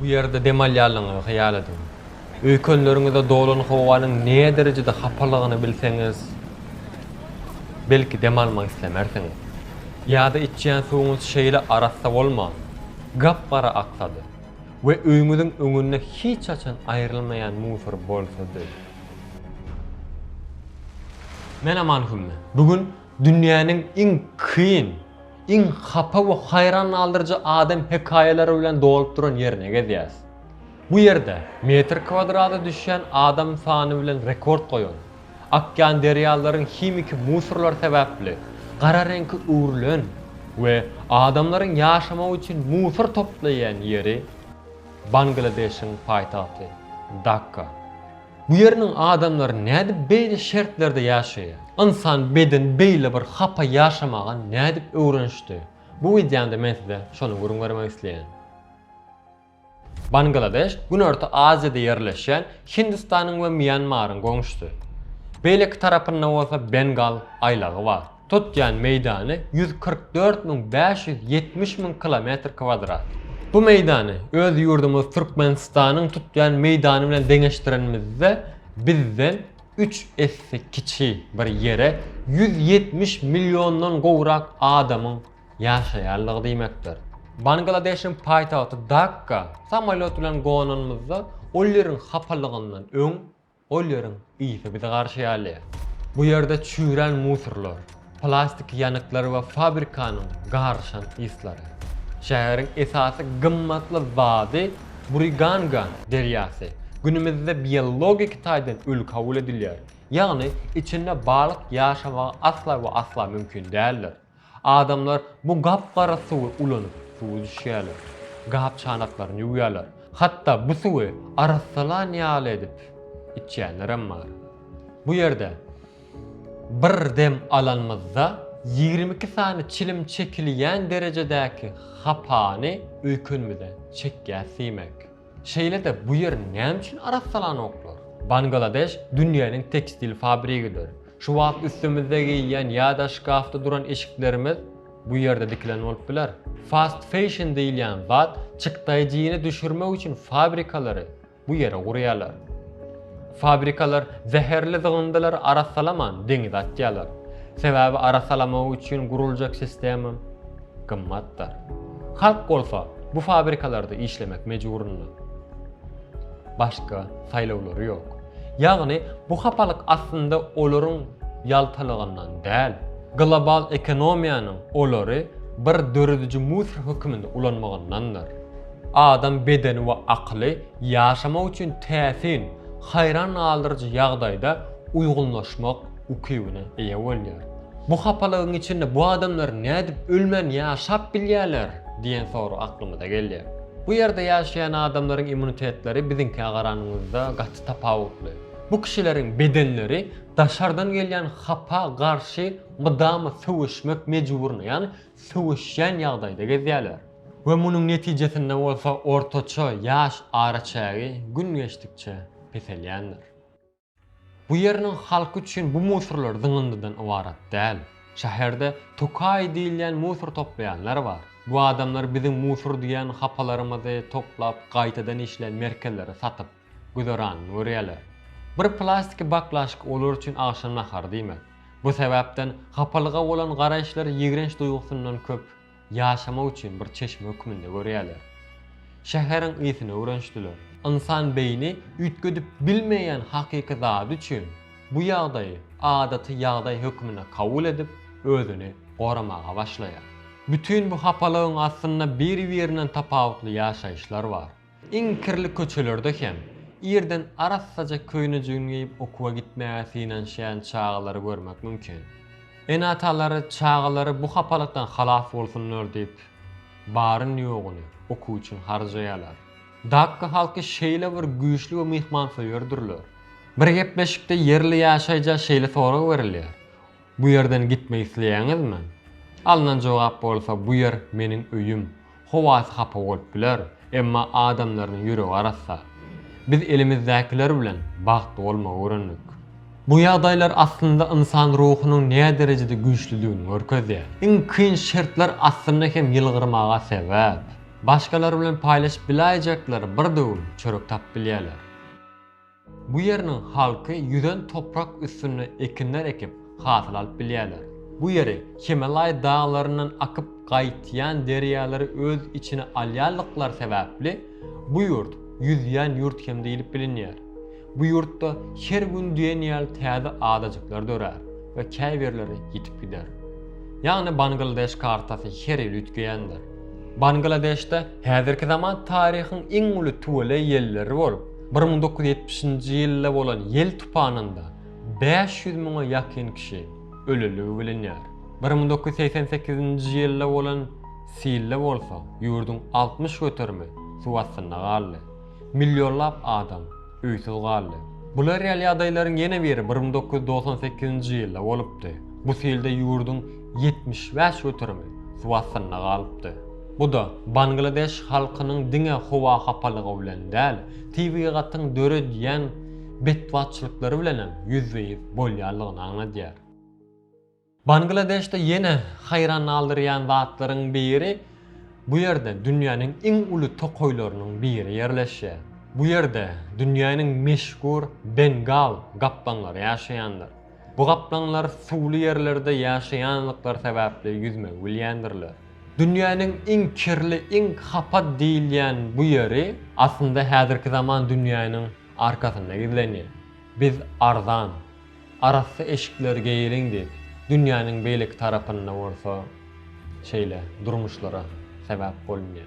Bu ýerde dem alýanlygyňyzy hyýal ediň. Öýkenleriňize dolan howanyň näderejede hapalygyny bilseňiz, belki dem almak islemersiňiz. Ýa-da içýän suwuňyz şeýle arassa bolman, gap-gara aksady we öýüňiziň öňünde hiç haçan aýrylmaýan musor bolsady. Men Aman Hümme. Bu gün Dünýäniň iň kyn, iň hapa we haýran galdyryjy adam hekaýalary bilen dolup duran ýerine gelýäs. Bu ýerde metr kwadrada düşýän adam sany bilen rekord goýan, akýan derýalaryň himiki musorlary sebäpli gara reňke öwrülen we adamlaryň ýaşamagy üçin musor toplaýan ýeri, Bangladeşiň paýtagty Dakka. Bu ýeriniň adamlary nädip beýle şertlerde ýaşaýar? Ynsan bedeni beýle bir hapa ýaşamaga nädip öwrenişdi? Bu wideomda men size şony gürrüň bermek isleýän. Bangladeş Günorta Aziýada ýerleşýän Hindistanyň we Mýanmaryň goňşusy. Beýleki tarapynda bolsa Bengal aýlagy bar. tutýan meýdany ýüz kyrk dört müň bäş ýüz ýetmiş müň kilometr kwadrat. Bu meýdany öz ýurdumyz Türkmenistanyň tutýan meýdany bilen deňeşdirenimizde, bizden üç esse kiçi bir ýere ýüz ýetmiş milliondan gowrak adamyň ýaşaýandygy diýmekdir. Bangladeşiň paýtagty Dakka samolýot bilen gonanymyzda ol ýeriň hapalygyndan öň, Ol ýeriň ysy bizi garşyalýar. Bu ýerde çüýrän musorlar, plastik ýanyklar we fabrikanyň garyşan yslary. Şäheriň esasy gymmatly zady Buriganga derýasy. Günümizde biologik taýdan öli kabul edilýär, ýagny içinde balyk ýaşamagy asla we asla mümkin däldir. Adamlar bu gap-gara suwy ulanyp, suw üzüşýärler, gap-çanaklaryny ýuwýarlar, hatda bu suwy arassalan ýaly edip içýänlerem bar. Bu ýerde bir dem alanymyzda ýigrimi iki sany çilim çekilýän derejedäki hapany öýkenimize çekýäs diýmek. Şeýle-de bu ýer näme üçin arassalanoklar? Bangladeş dünýäniň tekstil fabrigidir. Şu wagt üstimizde geýýän ýa-da şkafda duran eşiklerimiz bu ýerde dikilen bolup biler. Fast fashion diýilýän zat çykdaýjyny düşürmek üçin fabrikalary bu ýere gurýarlar. Fabrikalar zäherli zygyndylary arassalaman deňize atýarlar. Sebäbi arassalamagy üçin guruljak sistema. gymmatdyr. Halk bolsa bu fabrikalarda işlemek mejburynda. Başga saýlawlary ýok. Ýagny bu hapalyk aslynda olaryň ýaltalygyndan däl, global ekonomiýanyň olary bir dörediji musor höküminde ulanmagyndandyr. Adam bedeni we akyly ýaşamak üçin täsin, haýran galdyryjy ýagdaýda uýgunlaşmak ukybyna eýe bolýar. Bu hapalygyň içinde bu adamlar nädip ölmän ýaşap bilýärler diýen sorag aklymyza gelýär. Bu ýerde ýaşaýan adamlaryň immunitetleri biziňkä garanyňyzda gaty tapawutly. Bu kişileriň bedenleri daşardan gelýän hapa garşy mydama söweşmek mejburyna, ýagny söweşýän ýagdaýda gezýärler. We munuň netijesinde bolsa ortaça ýaş araçägi gün geçdikçe peselýändir. Bu ýeriniň halky üçin bu musurlar zyňyndydan ybarat däl. Şäherde tokaý diýilýän musur toplaýanlar bar. Bu adamlar biziň musur diýen hapalarymyzy toplap gaýtadan işleýän merkezlere satyp, güzeranyny görýärler. Bir plastiki baklaşka olar üçin agşam nahary diýmek. Bu sebäpden hapalyga bolan garaýyşlar ýigrenç duýgusyndan köp. ýaşamak üçin bir çeşme hökmünde görýärler. Şäheriň ysyna öwrenişdiler. Ynsan beýni üýtgedip bilmeýän hakyky zady üçin bu ýagdaýy adaty ýagdaý hökmünde kabul edip, özüni goramaga başlaýar. Bütin bu hapalygyň astynda biri-birinden tapawutly ýaşaýyşlar bar. Iň kirli köçelerde hem, irden arassaja köýnejigini geýip okuwa gitmäge synanyşýan çagalary görmek mümkin. Ene-atalar çagalary bu hapalykdan halas bolsunlar diýip, baryn-ýoguny okuw üçin harjaýarlar. Dakka halky şeýle bir güýçli we myhmansöýerdirler. Bir gepleşikde ýerli ýaşaýja şeýle sorag berilýär, Bu ýerden gitmek isleýäňizmi? Alnan jogap bolsa bu ýer meniň öýüm. Howasy hapa bolup biler, emma adamlarynyň ýüregi arassa. Biz elimizdäkiler bilen bagtly bolmagy öwrendik. Bu ýagdaýlar aslynda ynsan ruhunyň näderejede güýçlidigini görkezýär. Iň kyn şertler aslynda hem ýylgyrmaga sebäp. Başgalar bilen paýlaşyp biläýjekleri bir döwüm çörek tapyp bilýärler. Bu ýeriniň halky ýüzen toprak üstünde ekinler ekip, hasyl alyp bilýärler. Bu ýeri Himalaý daglaryndan akyp gaýtýan derýalary öz içine alýanlyklary sebäpli bu ýurt ýüzýän ýurt hem diýlip bilinýär. Bu ýurtda her gün diýen ýaly täze adajyklar dörär we käbirleri ýitip gider. Ýagny Bangladeş kartasy her ýyl üýtgeýändir. Bangladeşde häzirki zaman taryhyň iň uly tüweleý ýelleri bolup, Bir müň dokuz ýüz ýetmiş nji ýylda bolan ýel tupanynda bäş ýüz müňe ýakyn kişi ölendigi bilinýär. Bir müň dokuz ýüz segsen sekizinji ýylda bolan silde bolsa ýurduň altmyş göterimi suw astynda galdy. Millionlap adam öýsüz galdy. Bula real ýagdaýlaryň ýene biri bir müň dokuz ýüz dogsan sekizinji ýylda bolupdy. Bu silde ýurduň ýetmiş bäş göterimi suw astynda galypdy. Bu-da Bangladeş halkynyň diňe howa hapalygy bilen däl, tebigatyň döredýän betbagtçylyklary bilenem ýüzbe-ýüz bolýandygyny aňladýar. Bangladeşde ýene haýran galdyrýan zatlaryň biri, bu ýerde dünýäniň iň uly tokaýlarynyň biri ýerleşýär. Bu ýerde dünýäniň meşhur bengal gaplaňlary ýaşaýandyr. Bu gaplaňlar suwly ýerlerde ýaşaýandyklary sebäpli ýüzmegi bilýändirler. Dünýäniň iň kirli, iň hapa diýilýän bu ýeri aslynda häzirki zaman dünýäniň arkasynda gizlenýär. Biz arzan, arassa eşikler geýeliň diýip, dünýäniň beýleki tarapynda bolsa şeýle durmuşlara sebäp bolunýar.